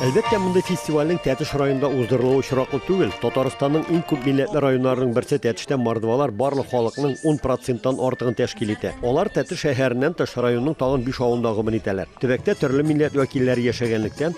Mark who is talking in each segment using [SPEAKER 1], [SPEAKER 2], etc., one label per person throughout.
[SPEAKER 1] Әлбәттә, мондый фестивальнең Тәтеш районында уздырылуы очраклы түгел. Татарстанның иң күп милләтле районнарының берсе Тәтештә мордвалар барлык халыкның 10 проценттан артыгын тәшкил итә. Алар Тәтеш шәһәреннән тыш районның тагын 5 авылында гомер итәләр. Төбәктә төрле милләт вәкилләре яшәгәнлектән,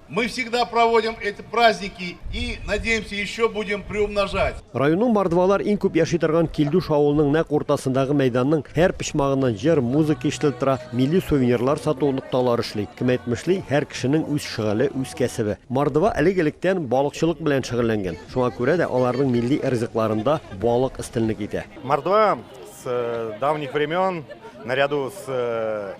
[SPEAKER 2] Мы всегда проводим эти праздники и надеемся еще будем приумножать. Районның мордвалар
[SPEAKER 1] иң күп яши торган Килдуш авылының нәкъ уртасындагы мәйданның һәр почмагыннан җыр, музыка ишетелеп тора, милли сувенирлар сату нокталары эшли. Кем әйтмешли, һәр кешенең үз шөгыле, үз кәсебе. Мордва элек-электән балыкчылык белән шөгыльләнгән. Шуңа күрә дә аларның милли ризыкларында балык өстенлек итә. Мордва с
[SPEAKER 3] давних времен наряду с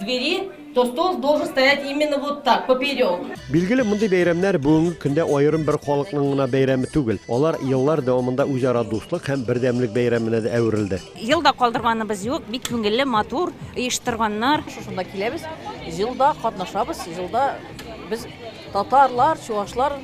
[SPEAKER 4] Двери, то стол должен стоять именно вот так, поперек. Билгеле, мондый
[SPEAKER 1] бәйрәмнәр бүгенге көндә аерым бер халыкның гына бәйрәме түгел. Алар еллар дәвамында үзара дуслык һәм бердәмлек бәйрәменә дә әверелде. Елда калдырганыбыз
[SPEAKER 5] юк, бик күңелле, матур, оештырганнар. Шушында киләбез,
[SPEAKER 6] җылда катнашабыз, җылда без татарлар, чувашлар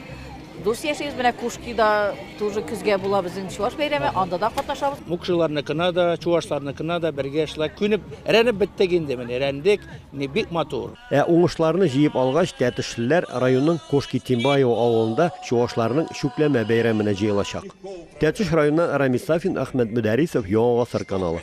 [SPEAKER 6] Дус яшибез, менә Кушкида тоже көзгә була безнең чуаш бәйрәме, анда да катнашабыз. Мукшыларныкына да,
[SPEAKER 7] чуашларныкына да бергә шулай күнеп, рәнеп беттек инде, менә рәндек, менә бик матур. Ә уңышларны җыеп
[SPEAKER 1] алгач, тәтешлеләр районның Кошки Тимбаево авылында чуашларның чүпләмә бәйрәменә җыелачак. Тәтеш районыннан Рамис Сафин, Ахмәт Мөдәрисов, Яңа Гасыр каналы.